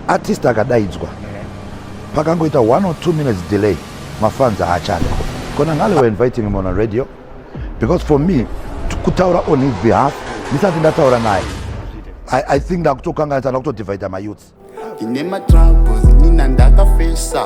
artist akadaidzwa pakangoita one or two minutes delay mafans haachade kona ngale were inviting him on a radio because for me kutaura on his behalf ndisati ndataura naye I, i think ndakutokanganisa ndakutodivida mayouths ine matrabos nina ndakafesa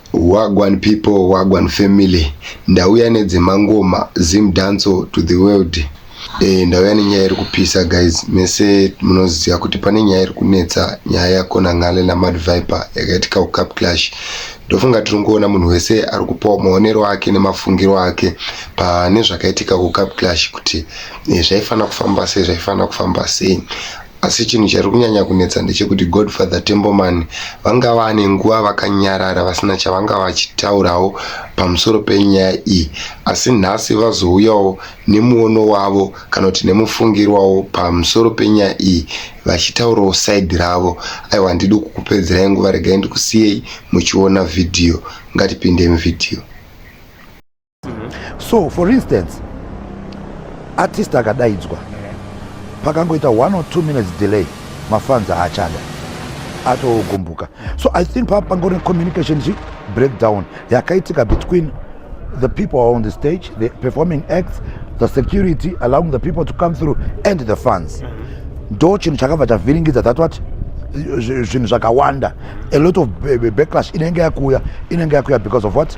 Wagwan people, wagwan family. Ndauya nedzemangoma, Zim Danso to the world. Eh, ndauya nenyaya iri kupisa guys. Mese munoziva kuti pane nyaya iri kunetsa, nyaya yakona Ngale na Mad Viper yakaitika ku Cup Clash. Ndofunga tiri kuona munhu wese ari kupawo maonero ake nemafungiro ake pane zvakaitika ku Cup Clash kuti eh, zvaifanira kufamba sei, zvaifanira kufamba sei. Asi chinhu chari kunyanya kunetsa ndechekuti Godfather Temboman vanga vane nguva vakanyarara vasina chavanga vachitaurawo pamusoro penyaya iyi asi nhasi vazouyawo nemuono wavo kana kuti nemufungirwawo pamusoro penyaya iyi vachitaurawo side ravo aiwa handidi kukupedzerai nguva regai ndikusiyei muchiona vhidhiyo ngatipinde muvhidhiyo so for instance artist akadaidzwa pakangoita one or two minutes delay mafans aachada atogumbuka so i think paa pangori communication chi breakdown yakaitika between the people are on the stage the performing acts the security allowing the people to come through and the fans mm -hmm ndo chinhu chakabva chavhiringidza that what zvinhu zvakawanda a lot of backlash inenge yakuuya inenge yakuuya because of what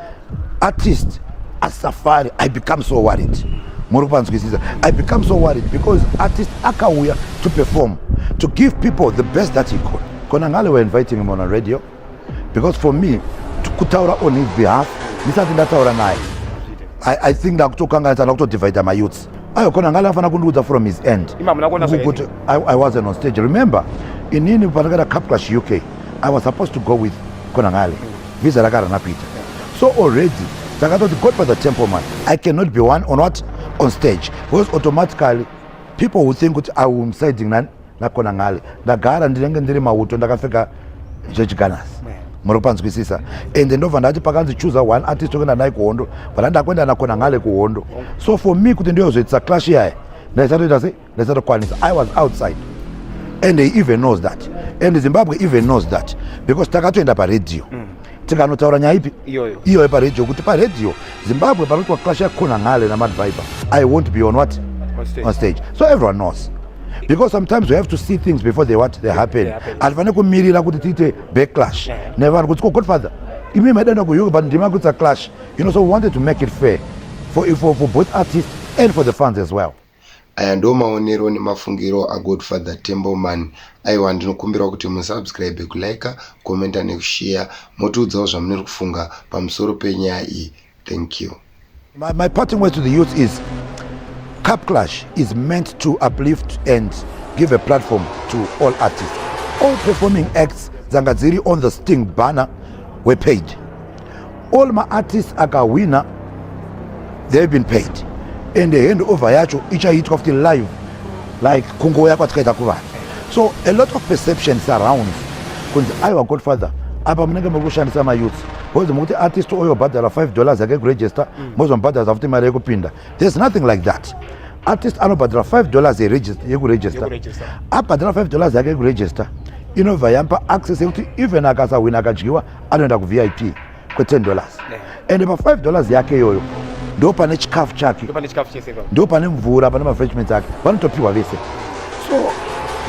at least asafari i become so worried muri kupanzwisisa i become so worried because artist akauya to perform to give people the best that he could kona ngale were inviting him on a radio because for me kutaura on his behalf ndisati ndataura naye I, i think ndakutokanganisa ndakutodivida mayouths ayo kona ngale afanira kundiudza from his end kuti I, i wasn't on stage remember inini pandakaita capclash uk i was supposed to go with kona ngale Visa rakarana Peter. So already takatoti Godfather Temple man, I cannot be one on what on stage because automatically people who think kuti I am siding nani nakona ngale ndagara ndinenge ndiri mauto ndakapfeka zvechiganasi muri kupanzwisisa ende ndobva ndati pakanzi chooser one artist okuenda naye kuhondo vana ndakuenda nakona ngale kuhondo so for me kuti ndiyozoitisa clash yaye ndaisatoita sei ndisatokwanisa i was outside and he even knows that and zimbabwe even knows that because takatoenda paradio mm. tikanotaura nyaya ipi iyoyo paradio kuti paradio zimbabwe panoti wakasha kona ngale namadviber i won't be on what on stage. on stage so everyone knows because sometimes we have to see things before they what they happen hatifanire kumirira kuti tiite backlash nevanhu kuti ko godfather imi maidanda kuuk but ndima kuitsa clash you know so we wanted to make it fair for, for, for both artists and for the fans as well Aya ndo maonero nemafungiro aGodfather Tembleman. Aiwa ndinokumbirawo kuti musubscribe, kuliker, commenta nekushare motiudzawo zvamuniri kufunga pamusoro penyaya iyi. Thank you. My, my parting words to the youth is Cup Clash is meant to uplift and give a platform to all artists. All performing acts dzanga dziri on the Sting banner wepage All ma artists akahwina they have been paid and the hand over yacho ichaitwa futi live like kungoya kwatikaita kuvanhu so a lot of perception surrounds kunzi aiwa godfather apa munenge muri kushandisa mayouth bcause mukuti artist oyo bhadhara 5 dollars yake kuregister mm. mozomubhadhara futi mari yekupinda there's nothing like that artist anobhadhara 5 dollars yekuregister abhadhara 5 dollars yake yekuregister inobva yampa access yekuti even akasahwina akadyiwa anoenda kuvip kwe10 dollars ende pa5 dollars yake iyoyo ndo pane chikafu chake ndo pane mvura pane mafreshments ake vanotopiwa vese so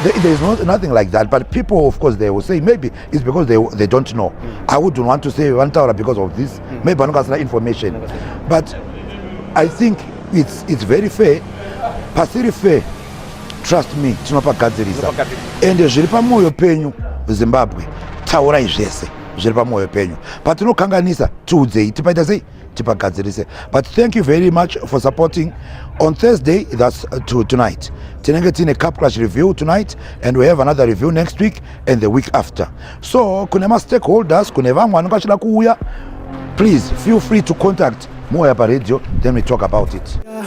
there, there is no, nothing like that but people of course they will say maybe it's because they, they don't know mm. i wouldn't want to say vanotaura because of this mm. maybe vanonga vasina information but i think it's, it's very fair pasiri fair trust me tinopagadzirisa ende zviri pamwoyo penyu zimbabwe taurai zvese zviri pamwoyo penyu patinokanganisa tiudzei tipaita sei tipagadzirise but thank you very much for supporting on thursday thats uh, to tonight tinenge tiine capclash review tonight and we have another review next week and the week after so kune mastakeholders kune vamwe vanenge vachida kuuya please feel free to contact moya paradio then we talk about it yeah.